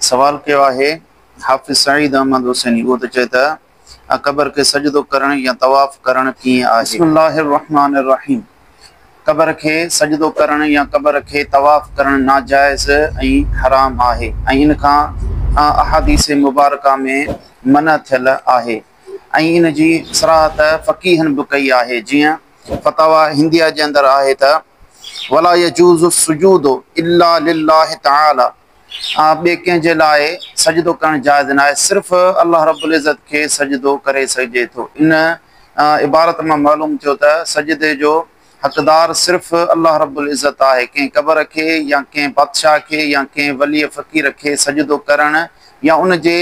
سوال ڪيو آهي حافظ سعيد احمد حسيني اهو ته چئي ته قبر کي سجدو ڪرڻ يا طواف ڪرڻ ڪيئن آهي. بسم الله الرحمان الرحيم قبر کي سجدو ڪرڻ يا قبر کي طواف ڪرڻ ناجائز ۽ حرام آهي ۽ ان کان احاديث مبارڪه ۾ منع ٿيل آهي ۽ ان جي صراحت فقيهن به ڪئي آهي جيئن فتاويٰ هنديه جي اندر آهي ته ولا يجوز السجود الا لله تعالي آن ٻئي ڪنهن جي لاء سجدو ڪرڻ جائز ناهي، صرف الله رب العزت کي سجدو ڪري سگهجي ٿو. ان عبارت مان معلوم ٿيو ته سجدي جو حقدار صرف الله رب العزت آهي، ڪنهن قبر کي يا ڪنهن بادشاهه کي يا ڪنهن ولي فقير کي سجدو ڪرڻ يا ان جي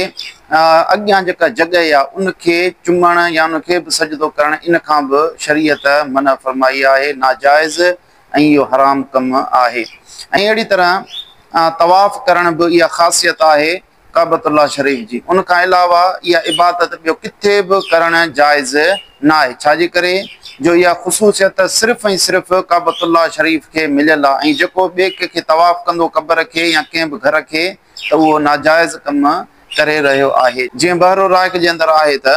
اڳيان جيڪا جڳهه آهي ان کي چمڻ يا ان کي به سجدو ڪرڻ ان کان به شريعت منع فرمائي آهي، ناجائز. ۽ اهو حرام ڪم آهي ۽ اهڙي طرح طواف ڪرڻ به اها خاصيت آهي ڪعبة الله شريف جي ان کان علاوه اها عبادت ٻيو ڪٿي به ڪرڻ جائز ناهي ڇاجي ڪري جو اها خصوصيت صرف ۽ صرف ڪعبة الله شريف کي مليل آهي ۽ جيڪو ٻئي ڪنهن کي طواف ڪندو قبر کي يا ڪنهن به گهر کي ته اهو ناجائز ڪم ڪري رهيو آهي جيئن بحر الرائق جي اندر آهي ته.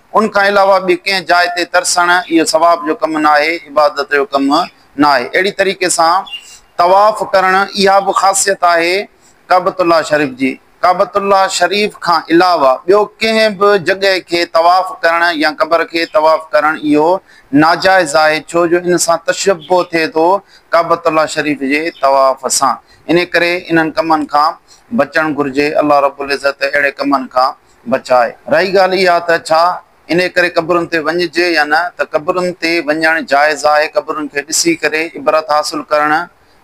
ان کان علاوه ٻي ڪنهن جاء تي ترسڻ اهو ثواب جو ڪم ناهي، عبادت جو ڪم ناهي. اهڙي طريقي سان طواف ڪرڻ اها به خاصيت آهي ڪعبة الله شريف جي. ڪعبة الله شريف کان علاوه ٻيو ڪنهن به جڳهه کي طواف ڪرڻ يا قبر کي طواف ڪرڻ اهو ناجائز آهي ڇو جو ان سان تشبه ٿئي ٿو ڪعبة الله شريف جي طواف سان. انهي ڪري انهن ڪمن کان بچڻ گهرجي. الله رب العزت اهڙي ڪمن کان بچائي. رهي ڳالهه اها ته ڇا انهي ڪري قبرن تي وڃجي يا نه ته قبرن تي وڃڻ جائز آهي، قبرن کي ڏسي ڪري عبرت حاصل ڪرڻ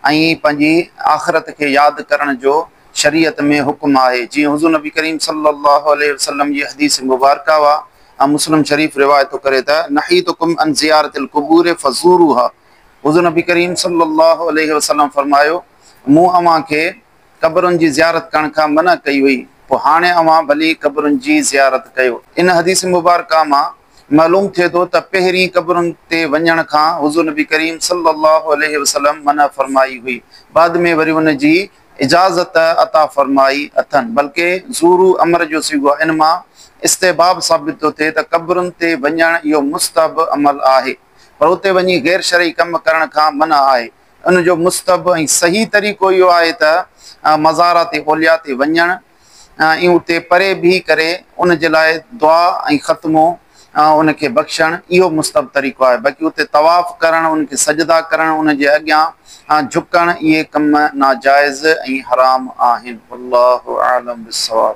۽ پنهنجي آخرت کي ياد ڪرڻ جو شريعت ۾ حڪم آهي جيئن حضور نبي ڪريم صلي الله عليه وسلم جي حديث مبارڪه واء ۽ مسلم شريف روايت ٿو ڪري ته، نهيتڪم عن زيارت القبور فزوروها حضور نبي ڪريم صلي الله عليه وسلم فرمايو مون اوهان کي. قبرن جي زيارت ڪرڻ کان منع ڪئي هئي، پوء هاڻي اوهان ڀلي قبرن جي زيارت ڪيو. ان حديث مبارڪه مان معلوم ٿئي ٿو ته پهرين قبرن تي وڃڻ کان حضور نبي ڪريم صلّي اللّٰه عليه وسلّم منع فرمائي هئي، بعد ۾ وري ان جي اجازت عطا فرمائي اٿن، بلڪه زورو امر جو صيغو آهي، ان مان استحباب ثابت ٿو ٿئي ته قبرن تي وڃڻ اهو مستحب عمل آهي، پر اتي وڃي غير شرعي ڪم ڪرڻ کان منع آهي. ان جو مستحب ۽ صحيح طريقو اهو آهي ته مزارات اولياء تي وڃڻ ۽ اتي پري بيهي ڪري ان جي لاء دعا ۽ ختمو ان کي بخشڻ اهو مستحب طريقو آهي باقي اتي طواف ڪرڻ ان کي سجدا ڪرڻ ان جي اڳيان جهڪڻ اهي ڪم ناجائز ۽ حرام آهن والله اعلم بالصواب.